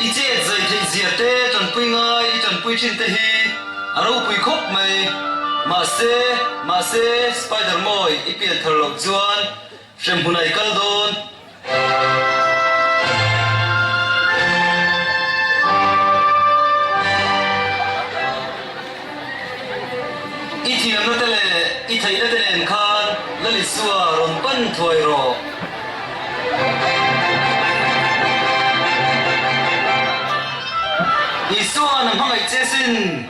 I chet zai theih zia te tanpui ngai i tanpui thin te hi a ropui khawp mai. Mahse, mahse, Spider mawi i pian thar loh chuan hremhmun ai kal dawn. I thiamnate leh i theihnate nen khan Lalisua rawn pan thuai rawh. Isuan a hmangaih che sin.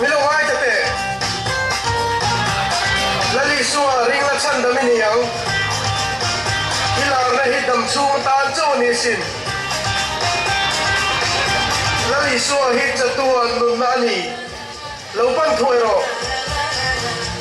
Milo ngai ta teh. Lali sua ring la chhan dam i ni ang. I larna hi dam chhung tan chauh ni sin. Lali sua hi chatu ah nunna a ni. Lo pan thuai rawh.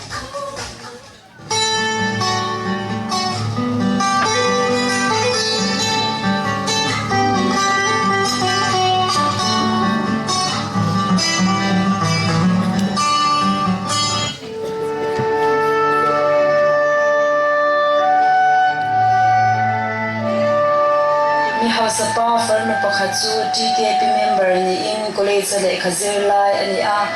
Mi hausapa farnu pakhat chu TKP member niin college-a lehkha zir lai a ni a.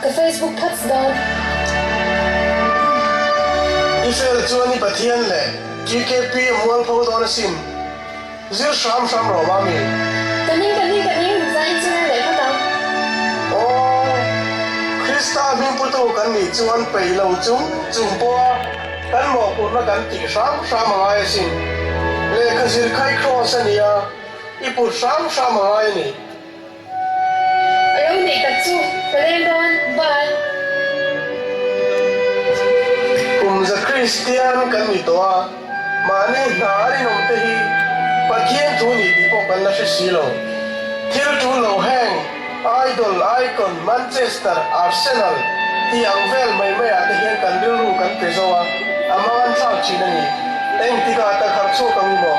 Ka Facebook phats dawn. I fel chuan i Pathian leh GKP a mual pho dawn a sin. Zir hram hram rawh Mami. Ka ning ka ning ka ning zah in chunga leh khat ang. Aww. Krista a hming putu kan nih chuan pei lo chum chum pawh a kan mawhpurhna kan tih hram hram a ngai a sin. Lehkha zir kha i Kraws a nia i put hram hram a ngai a ni. A lo neih tak chu ka leng dawn bai. Kum za Kristian kan ni tawh a, mahni hna a rinawm te hi Pathian thu ni tih pawh kan la hre si lo. Thil ṭul lo heng, idol, icon, Manchester, Arsenal, tih ang vel mai mai ah te hian kan rilru kan pe zo a, a mangan thlak ṭhin a ni. Engtikah takharh chhuak ang i maw?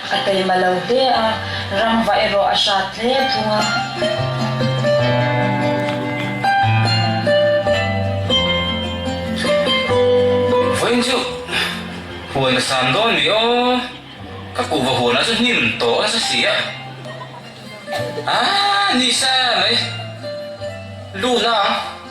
A taima lo hle a, rangva erawh a hrat hle thung a. Vawiin chu huan ka sam dawn ni aw, ka kuhva huanah chu hnim tawh nasa si a, aa ni sa mai, luna ang.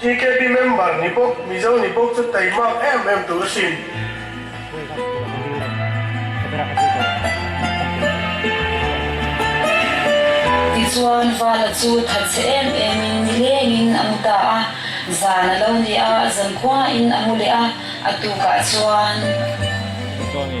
Tkb member ni bawk Mizo ni bawk chu tei mak em em tur sin. Tichuan vala chu that se em em in ni leng in a mu ta a, zan a lo ni a, zankhuain a mu leh a, a tukah chuan. Mizo ni.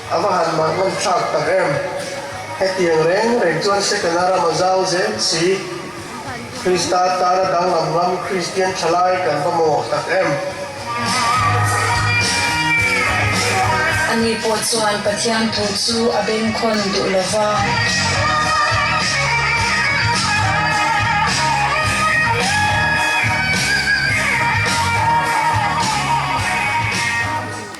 A va han mah ngam thlak tak em? Hetiang reng reng chuan second a ram a zau zel si. Krista tana danglam lam Kristian thalai kan va mawh tak em? Ani pawh chuan Pathian thu chu a bengkhawn duh lo va.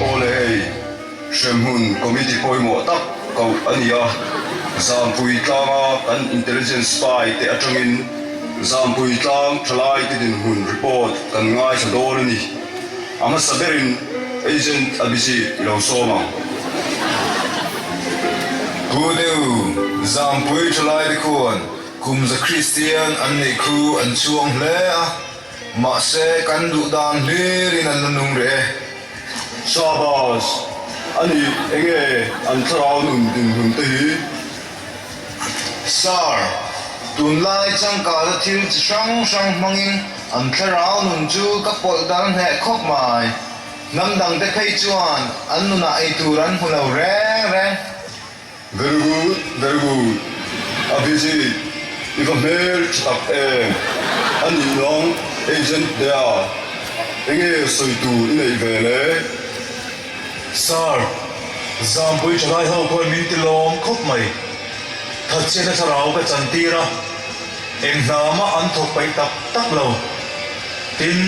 Aw le hei, hremhmun committee pawimawh tak koh a nia, Zampui tlanga kan intelligence spy te atangin Zampui tlang thalaite dinhmun report kan ngaithla dawn a ni. A hmasa berin agent a busy i lo sawm ang. Pu Deu Zampuii thalaii te khuan kumza Kristian an neih khu an chuang hle a, mahse kan duhdan hlir in an la nung reh e. Shahbaz, Anih enge an thlarau nun dinhmun te hi? Sir, tunlai changkâla thil chi hrang hrang hmangin an thlarau nun chu ka pawlh dar hneh khawp mai. Hnam dangte phei chuan an nunah ei tur an hmu lo reng reng. Very good, very good. Abhijit, i va hmel ṭha tak em? A nih lawng, Agent Dea, enge sawitu i neih ve le? Sir, Zampuii thalai ho khuan min ti lawm khawp mai. Thatchhiahna thlarau ka chan tir a, eng hna mah an thawk paih tak tak lo. Tin,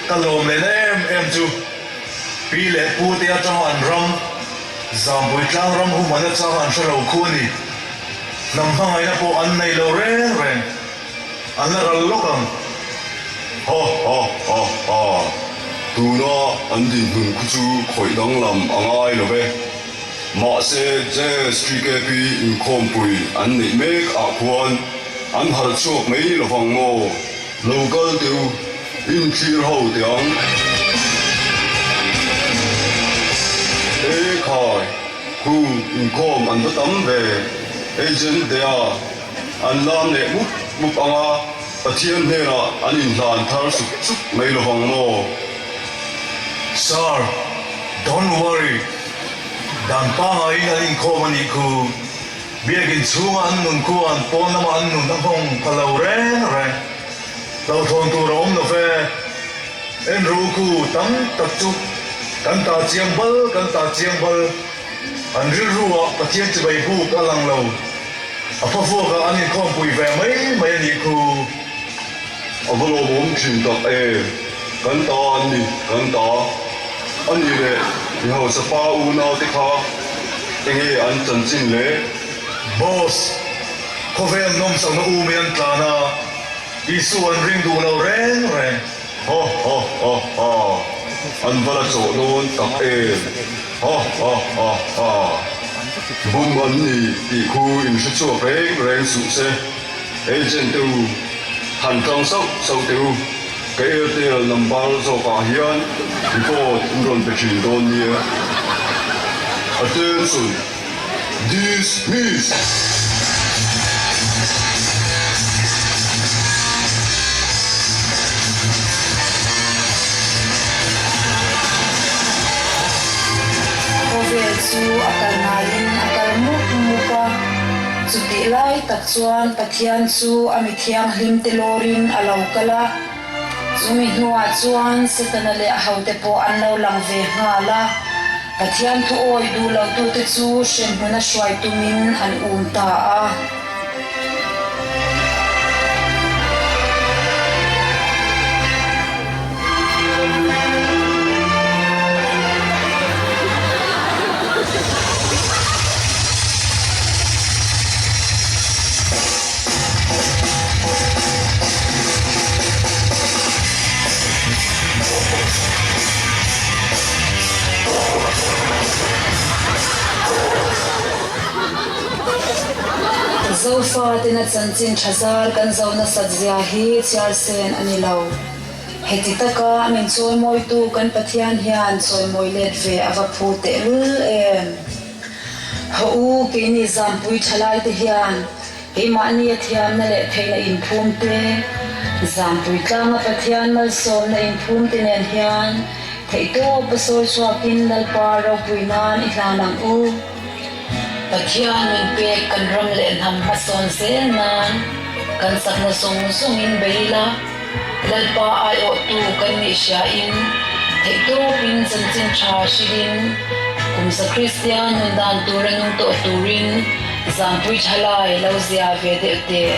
ka lawm lehna em em chu Pi leh Pu te atanga an ram, Zampuii tlang ram humana changa an hre lo khu a ni. Hnam hmangaihna pawh an nei lo reng reng. A la ral lawk ang. Ha ha ha ha. Tuna an dinhmun khu chu khawih danglam a ngai lo ve. Mahse JSGKP inkhawmpui an neih mek ah khuan an harh chhuak mai lo vang maw? Lo kal teh u, inthlir ho teh ang. E khai, khu inkhawm an va tam ve. Agent dea. An lam leh hmup hmup ang a, Pathian hnenah an inhlan thar sup sup mai lo vang maw? Sir, Don't worry, dan pangahin an inkhawm a nih khu, biakin chhunga an nun khuaa an pawn lama an nun a nghawng pha lo reng reng. Hlauhthawn tur a awm lo fe, en ru khu tam tak chu kan ta chiang bal kan ta chiang bal. An rilru ah Pathian chibai buk a lang lo, a fa vuak ah an inkhawm pui ve mai mai a nih khu. A va lawm awm thin tak e, kan ta an ni, kan ta a nih leh i hausa pa unau te kha enge an chanchin le? Boss, khawveng nawmsak na u mai an tlan a, Isua an ring duh lo reng reng. Ha ha ha ha an va la chawh dawn tak em! Ha ha ha ha bum an ni tih khu in hre chhuak reng reng suh se. Agent te u han tang sauh sauh te u, ka Airtel number zawk ah hian report in rawn pe thin dawn nia. Attention! Khawvel chu a kal ngaiin a kal mup mup a, chutih lai tak chuan Pathian chu a mithianghlimte lawrin a lo kal a. Chumi hnuah chuan Setana leh a hote pawh an lo lang ve nghal a. Pathian thuawi duh lohtu'te chu hrenhmun a hruai tumin an um ta a. Zofa tena chanchin tha zar kan zoh nasat zia hi Chiarsen a ni lo. Heti taka min chawimawitu kan Pathian hian chawimawi let ve a va phu tehlul em! Hau, keini zanpui thalaite hian kei mahnia thiamna leh theihna inphumte, zanpui tlanga Pathian malsawmna inphumte nen hian theihtawpa sawi chhuakin Lalpar ropui nan i hlan ang u. Pathian min pek kan ram leh hnam hmasawn zel nan kan sakna zawng zawngin bei ila. Lalpa ai awhtu kan nih hriain theihtawpin chanchin tha hrilhin kum Sakristia nun dan tur a nung tawh turin zanpui tha lai lo zia ve deuh teh.